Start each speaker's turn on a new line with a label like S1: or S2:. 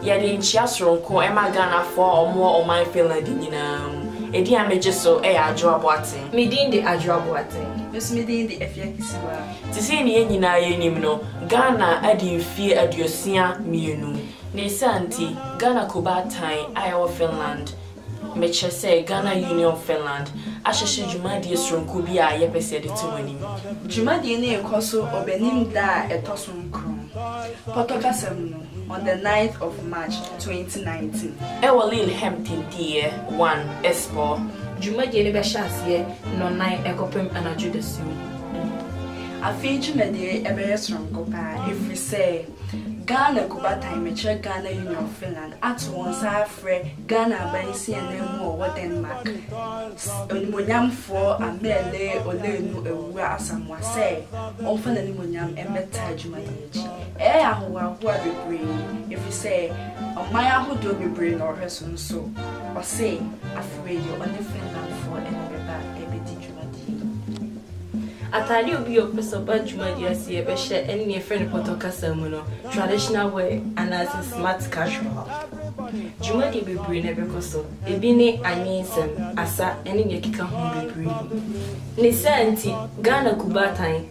S1: Yɛde nkyia soronko ma Ghanafoɔ a wɔwɔ ɔman Finland nyinaa mu. Edin a megye so yɛ Adwoa Boateng. Me din de Adwoa Boateng. Me nso me din de Afia Kisiwaa. Te sɛ nea yɛn nyinaa yɛnim no, Ghana adi mfeɛ aduosia mmienu. Ne saa nti, Ghana Kobaatan a ɛwɔ Finland, mekyerɛ sɛ Ghana Union of Finland, ahyehyɛ dwumadie soronko bi a yɛpɛ sɛ yɛde to mo anim. Dwumadie no rekɔ so Ɔbɛnem da a ɛtɔ so nkron, Pɔtɔ kasa mu no, on the ninth of March, twenty nineteen. Ɛwɔ Lillehamn Tenteeɛ one, Espoo. Dwumadie no bɛhyɛ aseɛ nnɔnnan ɛkɔpem anadwo dasuo. Afei dwumadie yi bɛyɛ soronko paa ɛfiri sɛ. Ghana Kubatan Mekyerɛ Ghana Union of Finland ato wɔn nsa afrɛ Ghana aban nsiananmu a ɔwɔ Denmark, Animuonyamfoɔ Amelie Oleanu Awuah Asamoah sɛ ɔmfa n'animuonyam mmɛtaa adwuma yi akyi. Ɛyɛ yɛn ahohoahoa bebree ɛfiri sɛ ɔman ahodoɔ bebree na ɔhwɛ so nso ɔse afeweɛ yi ɔne Finlandfoɔ na ɛbɛba ɛbɛdi dwuma. Atade a obi a ɔpɛ sɛ ɔba dwumadi ase yɛ bɛhyɛ ne nea ɛfrɛ no pɔtɔ kasa mu no traditional wear anaasɛ smart casual. Dwumadi bebree na ɛbɛkɔ so, ebi ne anwensɛm, asa ne nea ɛkeka ho bebree. Ne saa nti, Ghana kubaatan